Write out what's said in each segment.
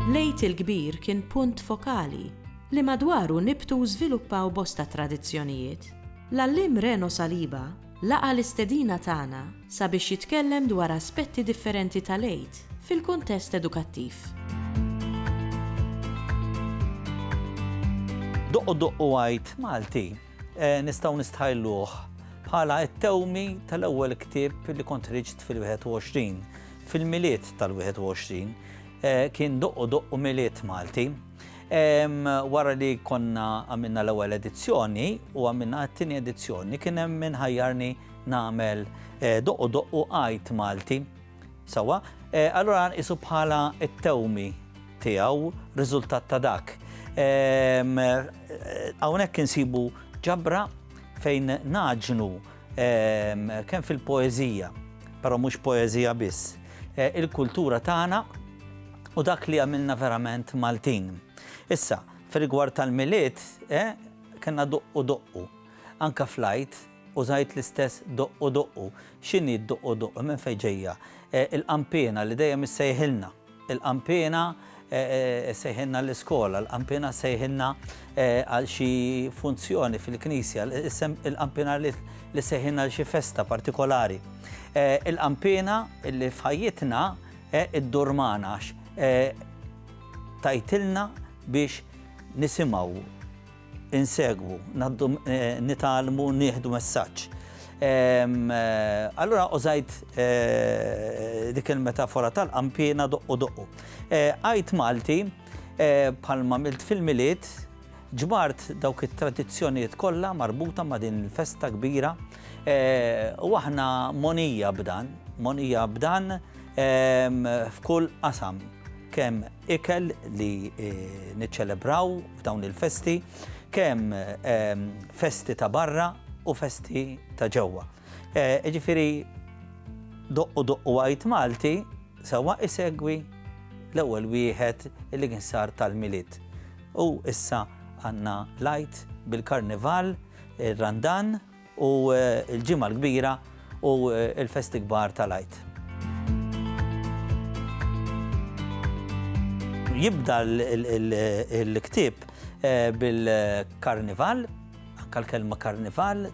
L-Għid il-Kbir kien punt fokali li madwaru nibtu u żviluppaw bosta tradizzjonijiet. L-Għalliem Reno Saliba laqa' l-istedina tagħna sabiex jitkellem dwar aspetti differenti tal-Għid fil-kuntest edukattiv. Doqqu doqqu għid Malti eh, nistgħu nistħajluh bħala t-tewmi tal-ewwel ktieb li kont riġt fil-21. Fil-miliet tal-21 eh, kien doqqu doqqu miliet Malti. Wara li konna għamilna l-ewwel edizzjoni u għamilna t-tieni edizzjoni kien hemm minħajjarni nagħmel doqqu doqqu għid Malti. Sewwa, allura nqisu bħala t-tewmi tiegħu riżultat ta' dak. Hawnhekk insibu ġabra fejn naġnu kemm fil-poeżija, però mhux poeżija biss, e, il-kultura tagħna u dak li għamilna verament Maltin. Issa, fir-rigward tal-miliet, e, kena doqqu doqqu, anka flajt, Użajt l-istess doqqu doqqu. X'inhi d-doqqu doqqu? Minn fejn ġejja? Il-qanpiena li dejjem issejħilna. Il-qanpiena ssejħilna l-iskola, il-qanpiena ssejħilna għal xi funzjoni fil-knisja, il-qanpiena li ssejħilna għal xi festa partikolari. Il-qanpiena li f'ħajjitna iddur magħna għax tgħidilna biex nisimgħu. insegwu, naddu nitgħallmu, nieħdu messaġġ. Allura użajt eh, dik il-metafora tal-qampina doqqu doqqu. Eh, għajt Malti, eh, bħalma milt fil-miliet, ġbart dawk it-tradizzjonijiet kollha marbuta ma' din il-festa kbira u aħna monija b'dan, monija b'dan f'kull qasam kemm ikel li niċċelebraw f'dawn il-festi, kemm festi ta' barra u festi ta' ġewwa. Ġifieri doqqu doqqu għajt Malti sewwa isegwi l-ewwel wieħed li kien sar tal-Milied. U issa għandna l-Għid bil-Karnival, ir-Randan, u l-Ġimgħa l-Kbira u l-festi kbar tal-Għid. Jibda l-ktieb bil-Karnival, anke l-kelma Karnival,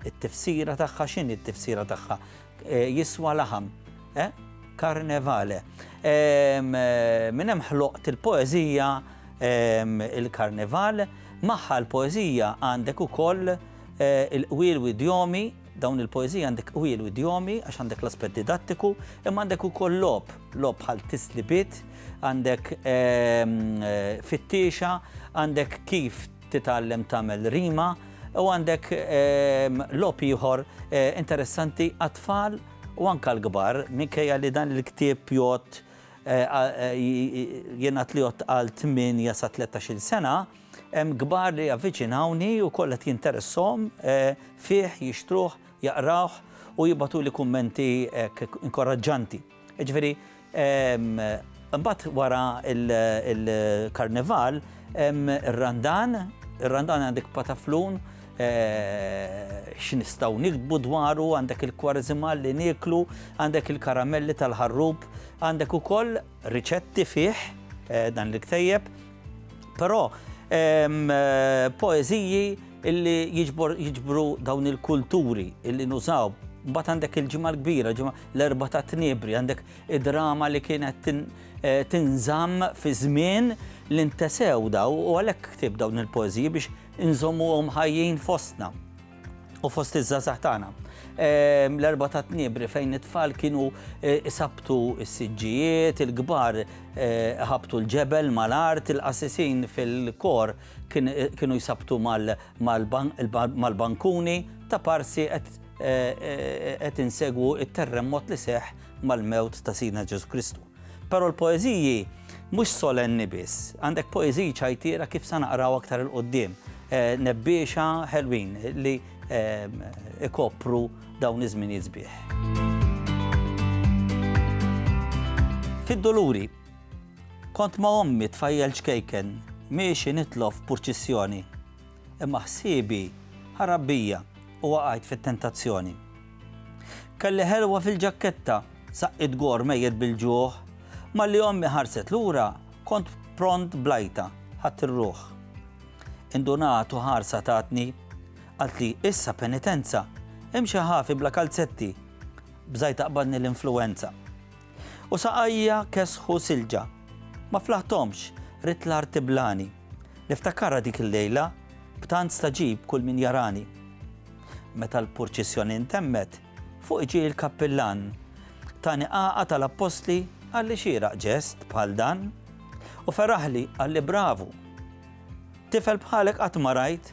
it-tifsira tagħha, x'inhi t-tifsira tagħha? Jiswa laħam, eh? Karnevale. Minn hemm ħloqt il-poeżija il-Karneval, magħha l-poeżija għandek ukoll eh, il-qwiel u idjomi, dawn il-poeżija għandek qwiel u idjomi għax għandek l-aspett didattiku, imma għandek ukoll lob, lob bħal tislibit, għandek eh, fittiexa, għandek kif titgħallem tagħmel rima u għandek ehm, lop ieħor eh, interessanti għat-tfal u anka l-kbar minkejja li dan il-ktieb jgħod eh, eh, jenat li jgħod għal 8 sa 13 sena hemm kbar li avviċinawni u kollha jinteressom fih jixtruh jaqrawh u jibatu li kummenti inkoraġġanti. Jiġifieri imbagħad wara l-Karnival hemm ir-Randan, ir-Randan għandek pataflun, x'nistgħu niktbu dwaru, għandek il-Kwareżimal li nieklu, għandek il-karamelli tal-ħarrub, għandek ukoll riċetti fih dan il-ktejjeb, però poeżiji li jiġbru dawn il-kulturi li nużaw. Imbagħad għandek il-Ġimgħa l-Kbira, L-Erbgħa tat-Tniebri, għandek id-drama li kienet tinżamm fi żmien li ntesew daw u għalhekk ktibt dawn il-poeżiji biex inżommuhom ħajjin fostna u fost iż-żgħażagħ tagħna. Ehm, L-Erbgħa tat-Tniebri fejn it-tfal kienu eh, isabtu s-siġġijiet, il-kbar eh, ħabtu l-ġebel mal-art, il-qassisin fil-kor eh, kienu jsabtu mal-bankuni ta' parsi qed qed insegwu t-terremot li seħħ mal-mewt ta' Sidna Ġesu Kristu. Però l-poeżiji mhux solenni biss, għandek poeżiji ċajtiera kif sa naqraw aktar il-qoddim, eh, nebbiexa ħelwin li eh, ikopru dawn iż-żminijiet sbieħ. Fid-doluri, kont ma' ommi tfajjel ċkejken, miexi nitlof purċissjoni. Imma ħsiebi ħarab bija u waqajt fit-tentazzjoni. Kelli ħelwa fil-ġakketta, saqqiet gor mejjet bil-ġuħ, malli ommi ħarset lura kont pront bl-għajta, ħadt ir-ruħ. Indunat u ħarsa tatni, qaltli issa penitenza, imxi ħafi bla kalzetti, bżajt aqbadni l-influwenza. U saqajja kesħu silġa. Ma flaħthomx, ridt l-art tiblani. Niftakarha dik il-lejla, b'tant stagħġib kull min jarani. Meta l-purċissjoni ntemmet, fuqi ġie l-kappillan. Tani għaqad tal-appostli, qalli xieraq ġest bħal dan. U feraħli, qalli bravu. Tifel bħalek qatt ma rajt.